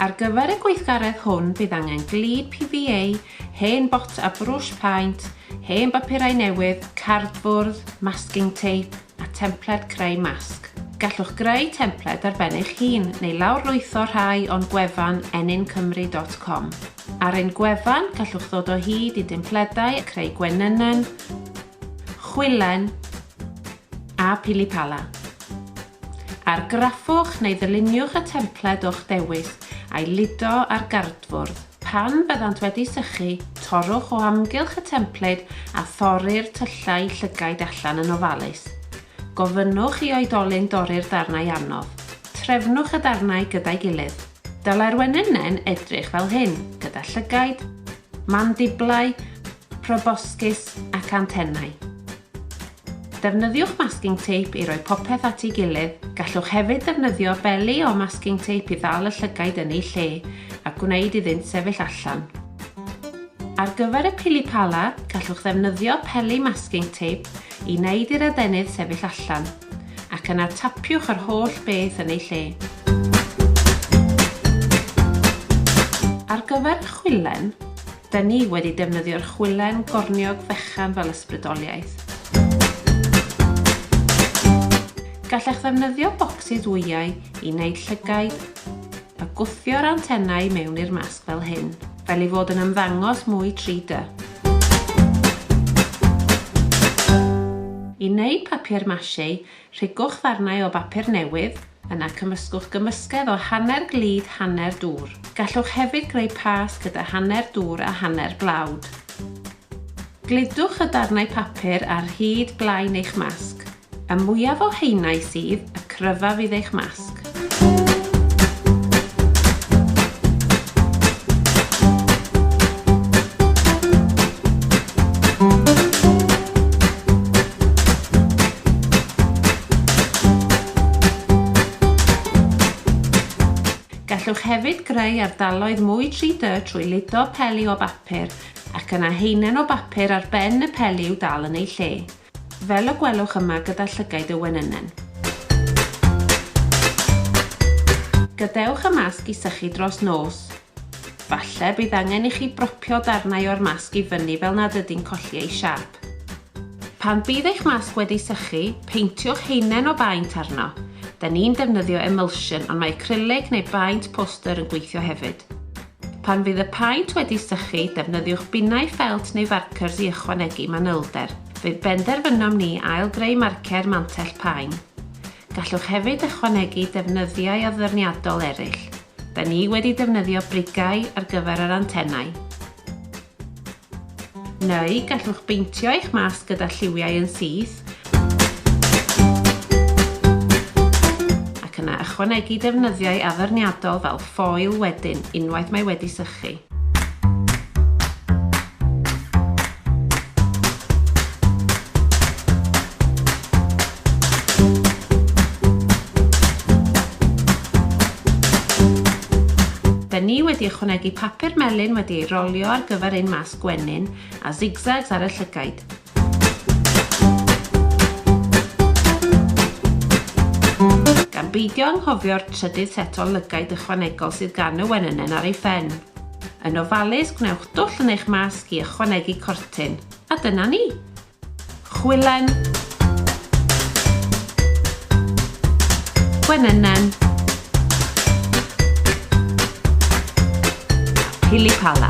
Ar gyfer y gweithgaredd hwn bydd angen glud PVA, hen bot a brwsh paent, hen bapurau newydd, cardbwrdd, masking tape a templed creu masg. Gallwch greu templed ar ben eich hun neu lawrlwytho rhai o'n gwefan ennincymru.com. Ar ein gwefan gallwch ddod o hyd i dempledau, creu gwenynnen, chwilen a pilipala. Argraffwch neu ddyluniwch y templed o'ch dewis a'i lido ar gardfwrdd. Pan fyddant wedi sychu, torrwch o amgylch y templed a thorri'r tyllau llygaid allan yn ofalus. Gofynnwch i oedolyn dorri'r darnau anodd. Trefnwch y darnau gyda'i gilydd. Dylai'r wenynen edrych fel hyn, gyda llygaid, Mandiblau, proboscis ac antennau. Defnyddiwch masking tape i roi popeth at ei gilydd, gallwch hefyd ddefnyddio beli o masking tape i ddal y llygaid yn eu lle a gwneud iddynt sefyll allan. Ar gyfer y pili pala, gallwch ddefnyddio peli masking tape i wneud i'r adenydd sefyll allan. ac yna tapiwch yr holl beth yn ei lle. Ar gyfer y chwilen, da ni wedi defnyddio'r chwilen gorniog fechan fel ysbrydoliaeth. Gallech ddefnyddio bocsys wyau i wneud llygaid A gwthio'r antenau mewn i'r masg fel hyn, fel ei fod yn ymddangos mwy 3D. I wneud papier mâché, rhigwch ddarnau o bapur newydd, yna cymysgwch gymysgedd o hanner glud hanner dŵr. Gallwch hefyd greu pâs gyda hanner dŵr a hanner blawd. Gludwch y darnau papur ar hyd blaen eich masg. Y mwyaf o haenau sydd, y cryfaf fydd eich masg. Gallwch hefyd greu ardaloedd mwy 3D trwy ludo peli o bapur ac yna heinen o bapur ar ben y peli i'w dal yn ei lle. Fel y gwelwch yma gyda llygaid y wenynen. Gadewch y masg i sychu dros nos. Falle bydd angen i chi bropio darnau o'r masg i fyny fel nad ydy'n colli ei siâp. Pan bydd eich masg wedi sychu, peintiwch haenen o baent arno. Da ni'n defnyddio emulsion ond mae acrylic neu baent poster yn gweithio hefyd. Pan fydd y paent wedi sychu, defnyddiwch binnau ffelt neu farcers i ychwanegu manylder. Fe benderfynom ni ail-greu marcer mantell paen. Gallwch hefyd ychwanegu defnyddiau addurniadol eraill. Da ni wedi defnyddio brigau ar gyfer yr antenau. Neu gallwch beintio eich masg gyda lliwiau yn syth ac yna ychwanegu defnyddiau addurniadol fel ffoil wedyn unwaith mae wedi sychu. Da ni wedi ychwanegu papur melyn wedi ei rolio ar gyfer ein masg gwenyn a zigzags ar y llygaid. Gan beidio anghofio'r trydydd set o lygaid ychwanegol sydd gan y wenynen ar ei phen. Yn ofalus, gwnewch dwll yn eich masg i ychwanegu cortyn. A dyna ni! Chwilen. Gwenynnen. Pilipala.